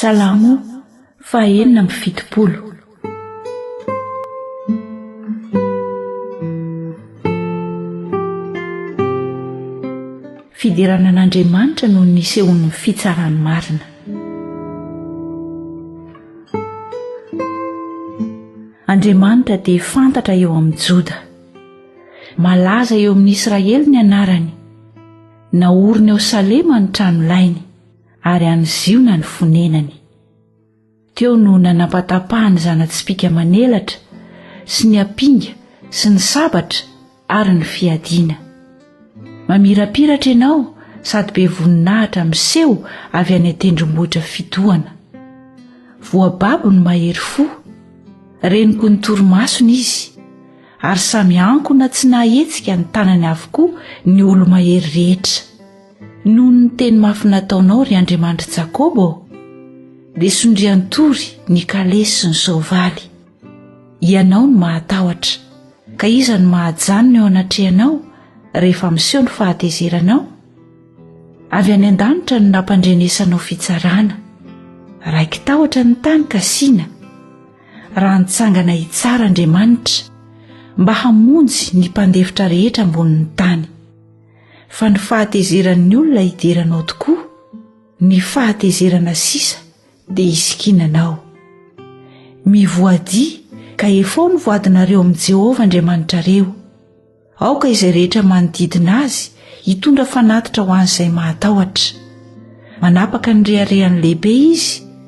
Salamo fahenina amby fitopolo. Fiderana an'Andriamanitra no nisehoan'ny fitsarany marina. Andriamanitra dia fantatra eo amin'ny Joda. Malaza eo amin'ny Israely ny anarany. Naoriny ao Salema ny trano lainy. ary any ziona ny fonenany teo no nanampatapahany zana-tsipika manelatra sy ny ampinga sy ny sabatra ary ny fiadiana mamirapiratra ianao sady be voninahitra miseho avy any an-tendrombohitra fitohana voababo ny mahery fo reniko ny toromasony izy ary samy ankona tsy nahetsika ny tanany avokoa ny olo-mahery rehetra Noho ny teny mafy nataonao, ry Andriamanitry Jakôba ô, dia sondrian-tory ny kalesy sy ny soavaly. Ianao no mahatahotra, ka iza no mahajanona eo anatrehanao rehefa miseho ny fahatezeranao? Avy any an-danitra no nampandrenesanao fitsarana. Raiki-tahotra ny tany ka sina, raha nitsangana hitsara Andriamanitra, mba hamonjy ny mpandefitra rehetra ambonin'ny tany. fa ny fahatezeran'ny olona hidera anao tokoa, ny fahatezerana sisa dia hisikina anao. Mivoadia ka hefao ny voadinareo amin'i Jehovah Andriamanitrareo. Aoka izay rehetra manodidina azy hitondra fanatitra ho an'izay mahatahotra. Manapaka ny reharehany lehibe izy